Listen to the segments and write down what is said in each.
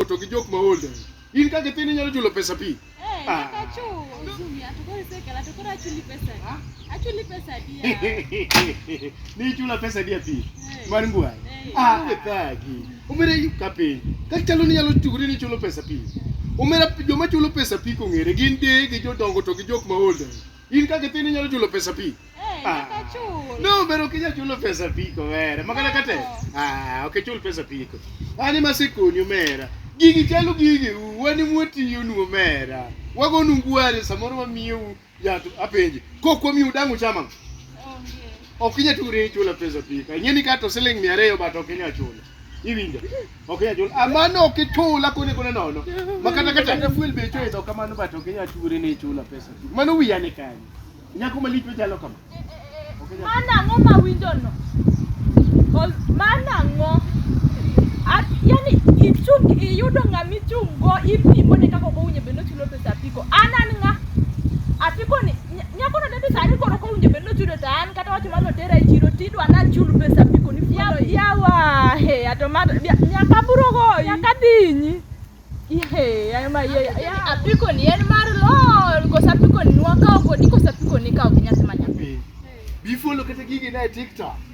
to gi jok ma old in ka gi tin inyalo chulo pesa pi Eh, Ah. nyaka achul. Zumi, atukoro isekela, atukoro achuli pesa. Achuli pesa dia. ni ichula pesa dia pi Eh. mar ngwai Eh. ah wethagi omera yu ka piny ka chalo ni inyalo churi ni ichulo pesa pi omera joma chulo pesa pi kong'ere gin deye gi jodongo to gi jok ma old In kaka ithin inyalo chulo pesa pi. Eh, Ah. nyaka chul. No, pero ok inyal chulo pesa pi kowera. Makana No. kate. Ah, ok ichul pesa pi ko. Ani masekoni omera. Gigi chalo gigi u, wani mwatiyo nu omera. Wago nu ngwari samoro wamiyo u yato apenji. Kok wamiyo dangu chama. Onge. Ok inyal ture chulo pesa pi. Ing'eni kato siling 200 but ok inyal chulo. iwinjo ok inyal chulo amano ok ichula kone kone nono makata kata ne fuel be ichulo idho kamano but ok inyal churi ni ichula pesa mano wiya ni kanyo nyako malich machalo kama Ok inyal- Mano ang'o ma winjo no? Cause Mano ang'o? At- Yani ichung iyudo ng'ama ichung' go ipimo ne kaka ok owinjo bed ni ochulo pesa apiko. An an ng'a? Apiko ni Nyakono ne dhi sani koro kowinjo bed nochudo to an kata wacho mar notera e chiro tidwa nachul pesa piko ni fuolo i. Yawa, he, ato ma nyaka buro goyi. Nyaka dinyi. Ihe, ayo ma ye. Ya, apiko ni en mar lol, kosa apiko ni nwakawo kodi, kosa apiko ni kawo gi nyathi ma nyathi. Bifolo kata gigi na e TikTok.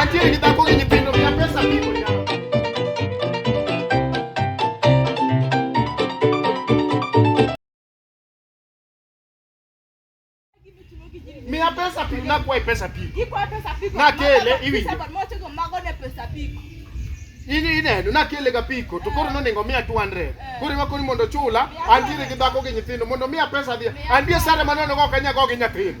Antiere gi dhako gi nyithindo mia pesa biko nyaka. Mia pesa pi na kwa pesa pi. Ikwa pesa piko. Na kele iwi. Moche go mago ne pesa piko. Ini ineno na kele ga piko to koro noningo mia 200. Eh. Koro ma koni mondo chula antiere gi dhako gi nyithindo mondo mia pesa dhi. Antie sare maneno go kanya go gi nyithindo.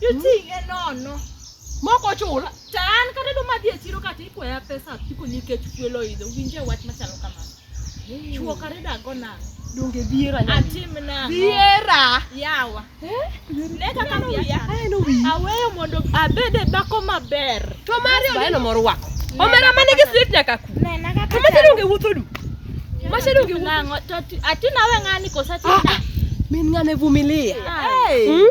Iting'e nono. Mok ochula. To an kata duma dhi e chiro kata ikwaya pesa apiko nikech fuel oidho. Winje wach machalo kamano. Chuo kare dago nang'o? Donge dhiera nyaka. Atim nang'o? Dhiera. Yawa. Ne kaka no wiya. Aneno wiyi. Aweyo mondo abed e dhako maber. To mari Bas, baeno moro wako. Nena Omera ma nigi kaka- street nyaka ku. Nena kaka To machalo onge wuotho du. Machalo onge wuotho. Nang'o? To ati- Ati nawe ng'ani kosa ati Ah, ah. Min ng'ane vumilia. Ah. Hmm?